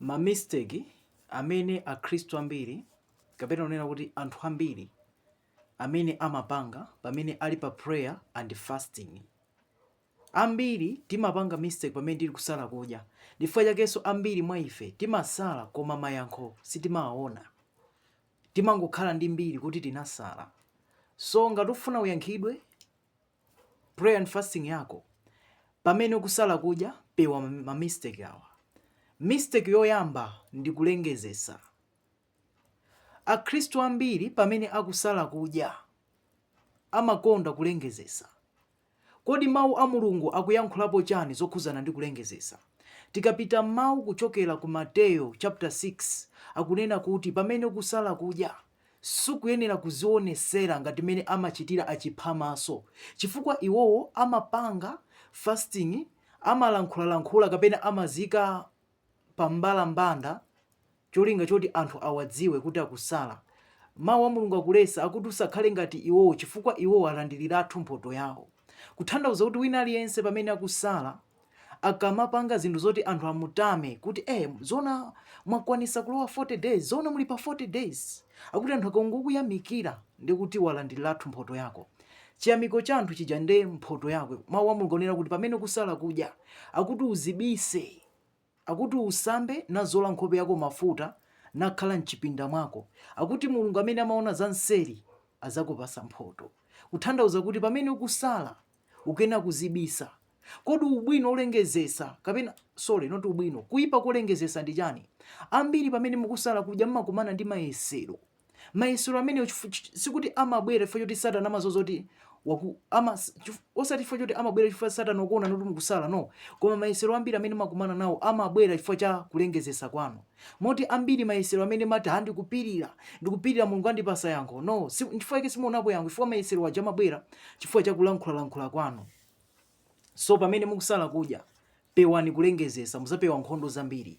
Ma mistake amene akhristu ambiri kapena unena kuti anthu ambiri amene amapanga pamene ali pa prayer and fasting. Ambiri timapanga mistake pamene tili kusala kudya. Ndifukwa chakenso ambiri mwa ife timasala koma mayankho sitimawaona. Timangokhala ndi mbiri kuti tinasala. So ngati ufuna uyankhidwe prayer and fasting yako pamene ukusala kudya pewa ma mistake awa mistake yoyamba ndi kulengezesa akhristu ambiri pamene akusala kudya amakonda kulengezesa kodi mawu a mulungu akuyankhulapo chani zokhuzana ndi kulengezesa tikapita mawu kuchokera ku mateyo chapter 6 akunena kuti pamene ukusala kudya Sukuyenera kuzionesera ngati mmene amachitira achiphamaso chifukwa iwowo amapanga fasting, amalankhulalankhula kapena amaziika pa mbalambanda cholinga choti anthu awadziwe kuti akusala. Mau a Mulungu akulesa akuti usakhale ngati iwowo chifukwa iwowo alandiliratu mphoto yawo. Kuthandauza kuti wina aliyense pamene akusala akamapanga zinthu zoti anthu amutame kuti eh, zona mwakwanisa kulowa 40 days, zona muli pa 40 days, akuti anthu akangokuyamikira ndi kuti walandiriratu mphoto yako chiyamiko cha anthu chija nde mphoto yako. Mawu a Mulungu akunena kuti pamene ukusala kudya akuti uzibise Akuti usambe, nazola nkhope yako mafuta, nakhala m'chipinda mwako. Akuti Mulungu amene amaona za mseri azakupasa mphoto. Kuthandauza kuti pamene ukusala, ukena kuzibisa. Kodi ubwino olengezesa, kapena, sorry, not ubwino, kuipa kolengezesa ndi chani? Ambiri pamene mukusala kudya mmakumana ndi mayesero. Mayesero amenewo chifu- ch- sikuti amabwera chifukwa choti satana amazoza kuti waku- ama- chif- osati chifukwa choti amabwera chifukwa satana wakuona kuti mukusala no koma mayesero ambiri amene makumana nawo amabwera chifukwa cha kulengezesa kwanu moti ambiri mayesero amene mati ha ndikupirira ndikupirira mulungu andipasa yankho no si- chifukwa chake simuonapo yankho chifukwa mayesero aja amabwera chifukwa cha kulankhulalankhula kwanu so pamene mukusala kudya pewani kulengezesa muzapewa nkhondo zambiri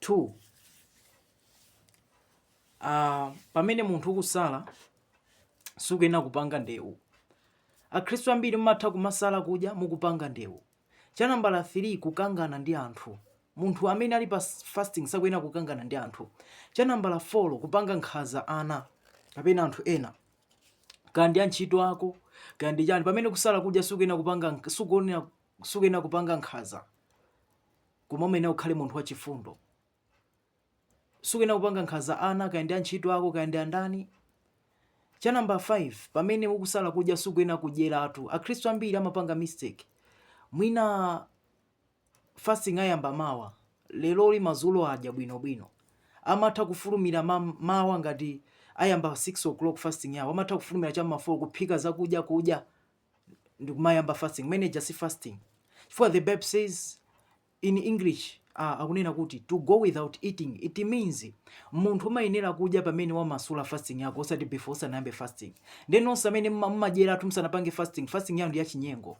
2 uh, pamene munthu ukusala sukuyenera kupanga ndewu akhristu ambiri mumatha kumasala kudya mukupanga ndewu cha nambala 3 kukangana ndi anthu munthu amene ali pa fasting sakuyenera kukangana ndi anthu cha nambala 4 kupanga nkhaza ana kapena anthu ena kandi antchito ako kandi chani pamene ukusala kudya sukuyenera kupanga sukuyenera kupanga nkhaza Koma uyenera ukhale munthu wachifundo. Sukuyenera kupanga nkhanza ana, kaya ndi antchito ako, kaya ndi andani. Cha namba 5, pamene ukusala kudya sukuyenera kudyeratu. Akhristu ambiri amapanga mistake. Mwina fasting ayamba mawa, leroli madzulo adya bwinobwino. Amatha kufulumira ma, mawa ngati ayamba 6 o'clock fasting yawo, amatha kufulumira cha ma 4 kuphika zakudya kudya. ndikumayamba fasting imene ija si fasting chifukwa the bible says in english uh, akunena kuti to go without eating it means munthu umayenera kudya pamene wamasula fasting yako osati before usanayambe fasting ndiye onse amene mumadyeratu musanapange fasting fasting yanu ndi yachinyengo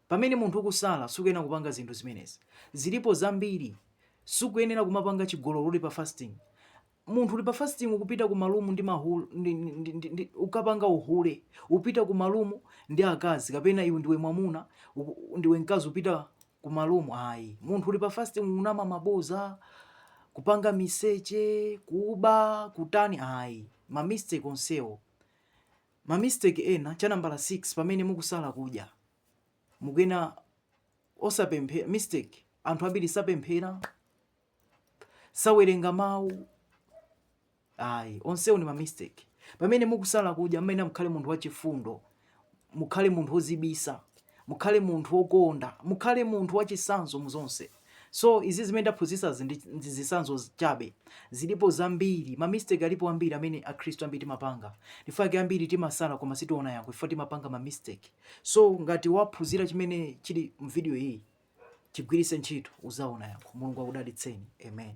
pamene munthu ukusala sukuyenera kupanga zinthu zimenezi zilipo zambiri sukuyenera kumapanga chigololo uli pa fasting munthu uli pa fasting ukupita ku malumu ndi mahule ndi, ndi, ndi, ndi, ndi, ukapanga uhule upita ku malumu ndi akazi kapena iwe ndiwe mwamuna uku- ndiwe mkazi upita ku malumu ayi munthu uli pa fasting unama maboza kupanga miseche kuba kutani ayi ma mistake onsewo ma mistake ena cha nambala 6 pamene mukusala kudya mukhala osapemphera mistake anthu ambiri sapemphera sawerenga mawu ayi onsewo ni mamistake pamene mukusala kudya muyenera mukhale munthu wachifundo mukhale munthu wozibisa mukhale munthu wokonda mukhale munthu wachisanzo mu zonse so izi zimene ndaphunzitsazi ndi ndi zisanzo chabe zilipo zambiri mamistake alipo ambiri amene akhristu ambiri timapanga nchifukwa chake ambiri timasala koma sitiona yankho chifukwa timapanga mamistake so ngati waphunzira chimene chili mvidiyo iyi chigwiritse ntchito uzaona yankho mulungu akudalitseni amen